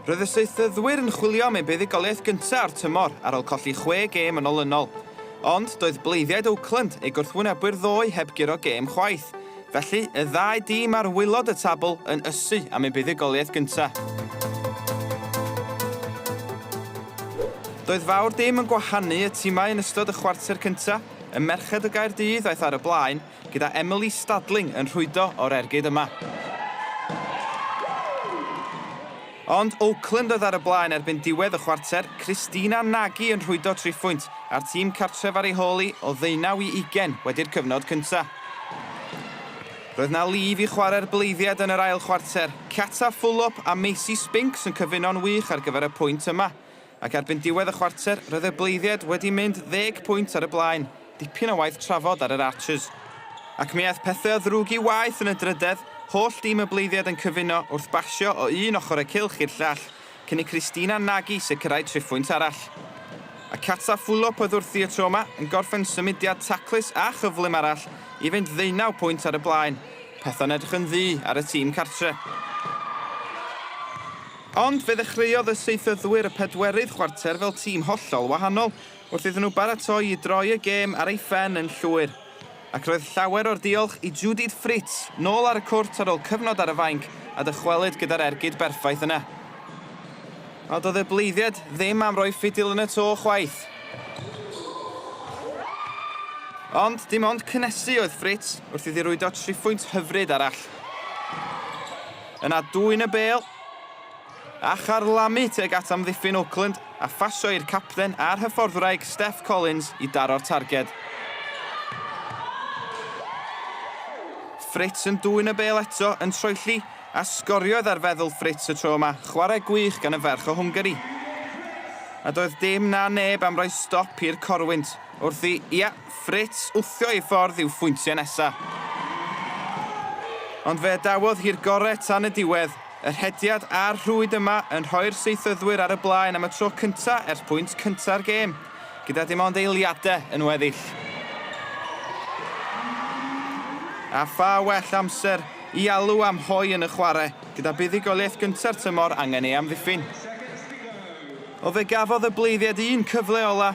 Roedd y seithydwyr yn chwilio am eu buddugoliaeth gyntaf o'r tymor ar ôl colli chwe gêm yn olynol. Ond doedd bleiddiaid Oakland, eu gwrthwynebwyr ddoe, heb guro gêm chwaith. Felly, y ddau dîm ar waelod y tabl yn ysu am eu buddugoliaeth gyntaf. Doedd fawr dim yn gwahanu y timau yn ystod y chwarter cyntaf. Y merched o Gaerdydd aeth ar y blaen, gyda Emily Stadling yn rhwydo o'r ergyd yma. Ond Oakland oedd ar y blaen erbyn diwedd y chwarter, Christina Nagy yn rhwydo triphwynt, a'r tîm cartref ar ei hôl hi o ddeunaw i ugain wedi'r cyfnod cyntaf. Roedd na lif i chwarae'r bleiddiad yn yr ail chwarter, Cata Fulop a Macy Spinks yn cyfuno'n wych ar gyfer y pwynt yma. Ac erbyn diwedd y chwarter, roedd y Bleiddiaid wedi mynd ddeg pwynt ar y blaen, dipyn o waith trafod ar yr Archers. Ac mi aeth pethau o ddrwg i waeth yn y drydedd, holl dîm y Bleiddiaid yn cyfuno wrth basio o un ochr y cylch i'r llall, cyn i Christina Nagy sicrhau triphwynt arall. A Kata Fulop oedd wrthi y tro yma, yn gorffen symudiad taclus a chyflym arall i fynd ddeunaw pwynt ar y blaen, peth o'n edrych yn ddu ar y tîm cartre. Ond fe ddechreuodd y saethyddwyr y pedwerydd chwarter fel tîm hollol wahanol, wrth iddyn nhw baratoi i droi y gêm ar ei phen yn llwyr. Ac roedd llawer o'r diolch i Judith Fritz, nôl ar y cwrt ar ôl cyfnod ar y fainc, a dychwelyd gyda'r ergyd berffaith yna. A doedd y bleiddiaid ddim am roi ffidil yn y to chwaith. Ond dim ond cynnesu oedd Fritz wrth iddi rwydo triphwynt hyfryd arall. Yna dwyn y bêl, A charlamu tuag at amddiffyn Oakland a phasio i'r capten a'r hyfforddwraig Steff Collins i daro'r targed. Fritz yn dwyn y bêl eto yn troelli, a sgoriodd ar feddwl Fritz y tro yma, chwarae gwych gan y ferch o Hwngari. A doedd dim na neb am roi stop i'r corwynt, wrth i, ia, Fritz wthio ei ffordd i'w phwyntiau nesa. Ond fe adawodd hi'r gore tan y diwedd. Y rhediad a'r rhwyd yma yn rhoi'r Seithydwyr ar y blaen am y tro cynta ers pwynt cynta'r gêm, gyda dim ond eiliade yn weddill. A pha well amser i alw am hoe yn y chware, gyda buddugoliaeth gynta'r tymor angen ei amddiffyn. O fe gafodd y Bleidiaid un cyfle ola,